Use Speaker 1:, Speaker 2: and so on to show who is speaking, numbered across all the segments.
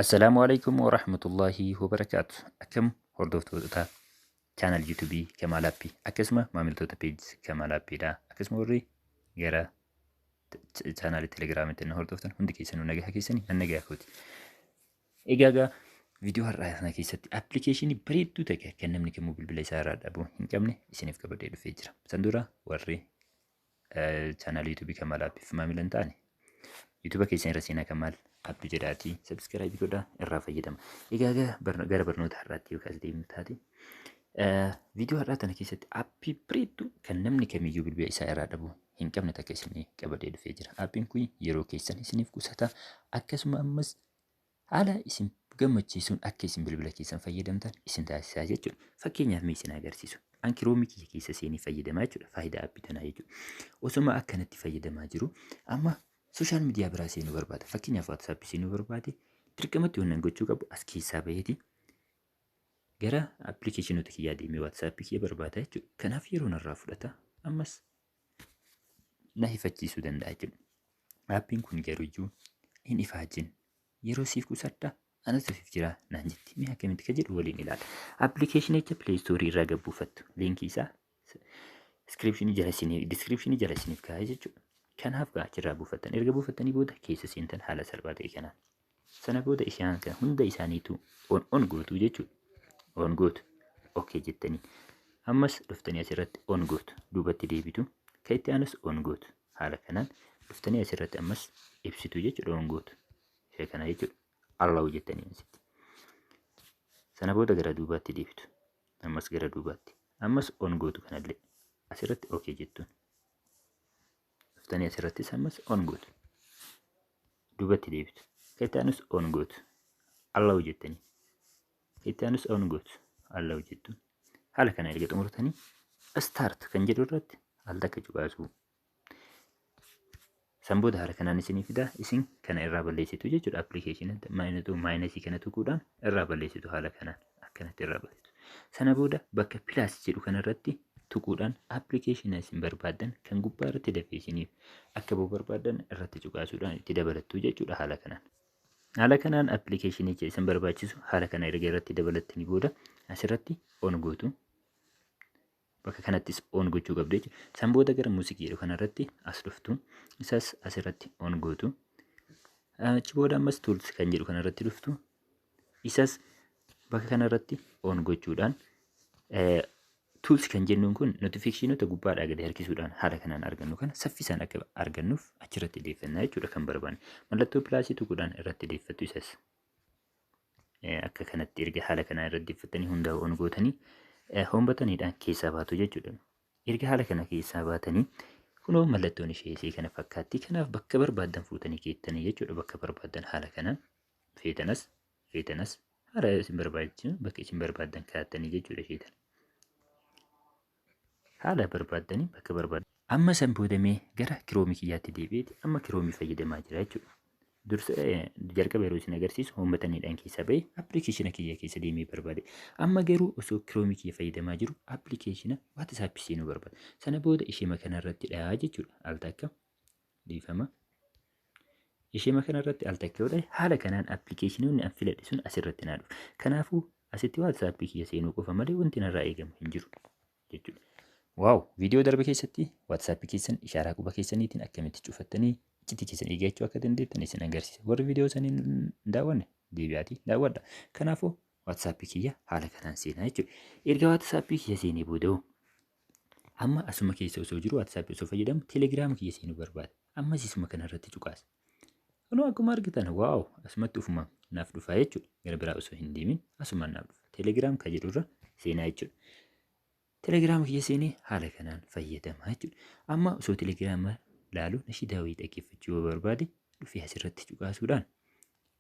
Speaker 1: Assalaamu alaikum wa rahmatullahi wa barakaatu. Akkam hordoftoota chaanal YouTube Kamaal Appii akkasuma maamiltoota peejii Kamaal Appiidha. Akkasuma warri gara chaanaalii Telegiraamiitti na hordoftan hundi keessanuu nagaa keessanii an nagaa kooti. Egaa egaa viidiyoo har'aa sana keessatti appilikeeshinii bareedduu ta'e kan namni kamuu bilbila isaa irraa dhabuu hin qabne isiniif qabadee dhufee jira. San dura warri chaanaal yuutuubii kan maal aappiif maamilan ta'ani. Yuutuuba keessan irra seenaa kan maal aappi jedhaatii sabskiraayibii godhaa irraa fayyadama. Egaa egaa gara barnoota har'aatti yookaas deemnu taate. Viidiyoo har'aa kana keessatti aappii bareedduu kan namni kamiyyuu bilbila isaa irraa dhabuu hin qabne takka isinii qabadee dhufee jira. Aappiin kun yeroo keessan isiniif qusata akkasuma ammas haala isin gammachiisuun akka isin bilbila keessan fayyadamtan isin taasisaa jechuudha. Fakkeenyaaf mee isin agarsiisu. An kiroomii kiyya keessa seenee fayyadamaa jechuudha faayidaa appii tanaa jechuudha. Osoma akkanatti fayyadamaa jiru amma sooshaal miidiyaa biraa seenuu barbaada. Fakkeenyaaf waatsaappi seenuu barbaade dirqamatti waan nan gochuu qabu as keessaa baheeti gara appilikeeshinoota kiyyaa deemee waatsaappii kiyya barbaada jechuudha. Kanaaf yeroo narraa fudhata ammas na hifachiisuu danda'a jechuudha. Rabbiin kun garuu iyyuu hin ifaajin yeroo siif qusadha anatu siif jira naan jetti. Mee akkamitti ka jedhu waliin ilaala. Appilikeeshinicha Play Store irraa gad buufattu. Liinkii isaa description jala isiniif description jala isiniif kaa'ee jechuudha. Kanaaf gaa achirraa buufattan. Erga buufattanii booda keessa seentan haala salphaa ta'e kanaan. Sana booda isaan kana hunda isaaniitu on on gootu jechuudha. On gootu. Okay jettanii. Ammas dhuftanii asirratti on gootu. Duubatti deebitu. Kan itti aanus on gootu. Haala kanaan dhuftanii asirratti ammas ibsitu jechuudha on gootu. Isa kana jechuudha. Allahu jettanii asitti. Sana booda gara duubaatti deebitu. Ammas gara duubaatti. Ammas on gootu kanallee. Asirratti okay jettuun. Dhuftanii asirrattis ammas on gootu. Duubatti deebitu. Akka itti aanus on gootu. Alla hojjettanii. Akka itti aanus on gootu. Alla hojjettu. Haala kana erga xumurtanii start kan jedhu irratti al takka cuqaasuu. San booda haala kanaan isinii fida isin kana irraa balleessitu jechuudha appilikeeshinii maayinasii kana tuquudhaan irraa balleessitu haala kanaan. akkanatti irraa baritu. Sana booda bakka pilaas jedhu kanarratti tuquudhaan appilikeeshina isin barbaaddan kan gubbaa irratti dafee isiniif akka ba'u barbaaddan irratti cuqaasuudhaan itti dabalattu jechuudha haala kanaan. Haala kanaan appilikeeshinicha isin barbaachisu haala kana erga irratti dabalattanii booda asirratti on gootu. bakka kanattis on gochuu qabdu jechuudha. San booda gara music jedhu kanarratti as dhuftu. Isas asirratti on gootu. Achi booda ammas tools kan jedhu kanarratti dhuftu. Isas bakka kanarratti on gochuudhaan tools kan jennuun kun notifiikeeshinoota gubbaadhaa gadi harkisuudhaan haala kanaan argannu kana saffisaan akka argannuuf achirratti deeffannaa jechuudha kan barbaanne. Mallattoo pilaasii tuquudhaan irratti deeffattu isas. akka kanatti erga haala kanaa irra deeffattanii hundaa on gootanii hoombataniidhaan keessaa baatu jechuudha. Erga haala kana keessaa baatanii kunoo mallattoon ishee isee kana fakkaatti. Kanaaf bakka barbaadan fuutanii keettanii jechuudha. Bakka barbaadan haala kana feetanas feetanas haala isin barbaachisu bakka isin barbaadan kaattanii jechuudha isheetan. Haala barbaaddanii bakka barbaaddan. Amma san booda mee gara kiroomi kiyyaatti deebi'eeti amma kiroomi fayyadamaa jira jechuudha. Dursa jalqaba yeroo isin agarsiisu hoombataniidhaan keessa ba'e appilikeeshina kiyya keessa deemee barbaade. Amma garuu osoo kiroomi kiyya fayyadamaa jiru appilikeeshina WhatsApp seenuu barbaada. Sana booda ishee makanarratti dhayaa jechuudha. Al takka dhiifama. Ishema kanarratti al takka yoo ta'e haala kanaan appilikeeshinoonni an filadhe sun asirratti naa dhufu. Kanaafuu asitti waatsaappii kiyya seenuu qofa malee wanti narraa eegamu hin jiru jechuudha. Waaw viidiyoo darbe keessatti waatsaappii keessan ishaaraa quba keessaniitiin akkamitti cufattanii iccitii keessan eeggachuu akka dandeettan isin agarsiisa. Warri viidiyoo sanii hin daawwanne deebi'aatii daawwadha. Kanaafuu waatsaappii kiyya haala kanaan seenaa jechuudha. Erga waatsaappii kiyya seenee booda hoo Amma asuma keessa osoo jiru WhatsApp osoo fayyadamu Telegram kiyya seenuu barbaada. Ammas isuma kana irratti cuqaasa. Kunoo akkuma argitan waaw asumatti ufuma naaf dhufa jechuudha. Gara biraa osoo hin deemin asuma naaf dhufa. Telegram kan jedhu irra seenaa jechuudha. Telegram kiyya seenee haala kanaan fayyadama jechuudha. Amma osoo Telegram laalu nashidaa wayii dhaggeeffachuu yoo barbaade dhufee asirratti cuqaasuudhaan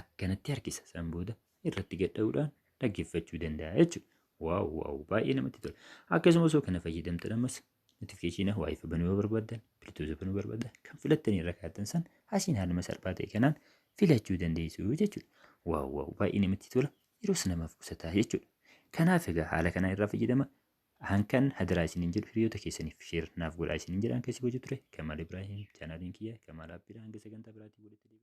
Speaker 1: akkanatti harkisa. San booda irratti gadha'uudhaan dhaggeeffachuu danda'a jechuudha. Waaw waaw baay'ee namatti tola. Akkasuma osoo kana fayyadamtan ammas notifikashiina waayifii banuu yoo barbaadan, biltuusa banuu barbaadan kan filattanii irra kaa'atan san asiin haaluma salphaa ta'e kanaan filachuu dandeessu jechuudha. Waaw waaw baay'ee namatti tola. Yeroos namaaf qusataa jechuudha. Kanaaf egaa haala kanaa irraa fayyadama. Hankan hadaraa isiniin jedhu hiriyoota keessaniif sheer naaf godhaa isiniin jedhaan keessi gochuu ture. Kamaal Ibraahim chaanaaliin kiyya Kamaal Abbiidha hanga sagantaa biraatiin walitti deebi'u.